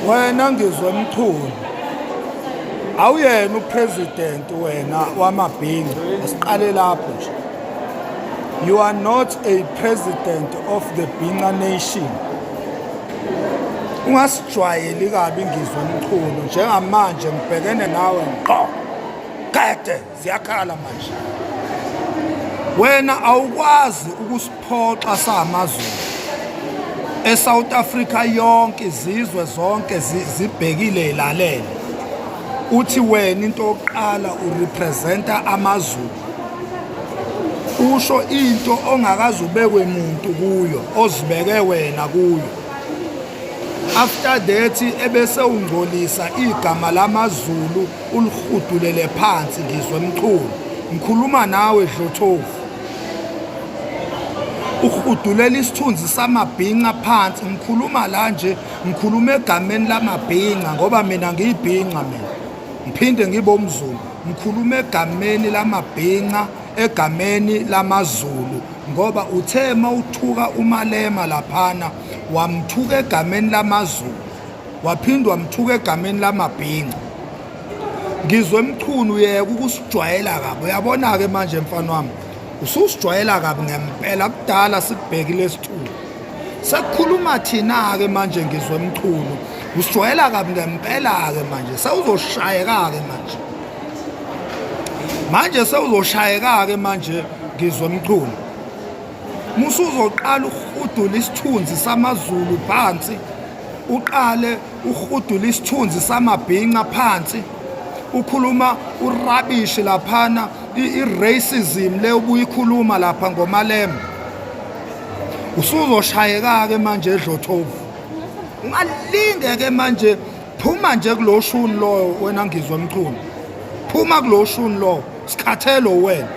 wena ngizwe mchunu awuyena upresident wena wamabhinga asiqale lapho nje you are not a president of the binga nation ungas Jwayeli kabi ngizwe umchunu njengamanje ngibhekene nawe ngqo. Qede ziyakhala manje. Wena awukwazi ukusiphoxa samazulu. ESouth Africa yonke izizwe zonke zibhekile ilalele. Uthi wena into oqala urepresenta amazulu. Usho into ongakazubekwe muntu kuyo ozibeke wena kuyo. after that ebese ungcolisa igama lamaZulu ulihudulele phansi ngizwe mchulu ngikhuluma nawe dlothovu uhudulela isithunzi samabhinca phansi ngikhuluma la nje ngikhuluma egameni lamabhinca ngoba mina ngiyibhinca mina ngiphinde ngibe umzulu ngikhuluma egameni lamabhinca egameni lamaZulu ngoba uthe mawuthuka umalema laphana wamthuka egameni lamazulu waphinde wamthuka egameni lamabhinca ngizwe emchunu yeka ukusijwayela kabi uyabona-ke manje mfana wami ususijwayela kabi ngempela kudala sikubhekile sithulu sekukhuluma thina-ke manje ngizwe emchunu usijwayela kabi ngempela-ke manje sewuzoshayeka-ke manje manje sewuzoshayeka-ke manje ngizwe emchunu musuzoqala ukurhudula isithunzi samazulu phansi uqale ukurhudula isithunzi samabhinca phansi ukhuluma urabishi laphana i-racism le ubuyikhuluma lapha ngomalembe usuzoshayeka-ke manje edlothovu ungalinge-ke manje phuma nje kulo shuni loyo wena ngizwa mchunu phuma kulo shuni lowo sikhathelo wena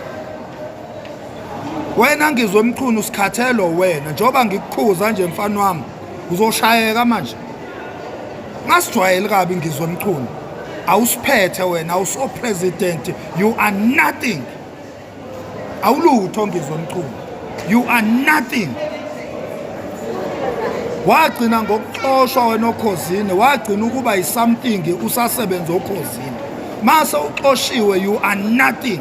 wena ngizwe mchunu sikhathelo wena njengoba ngikukhuza nje mfana wami uzoshayeka manje ngasijwayeli kabi ngizwe mchunu awusiphethe wena awuso president you are nothing awulutho ngizwe mchunu you are nothing wagcina ngokuxoshwa wena okhozini wagcina ukuba yisomething usasebenza okhozini mase uxoshiwe you are nothing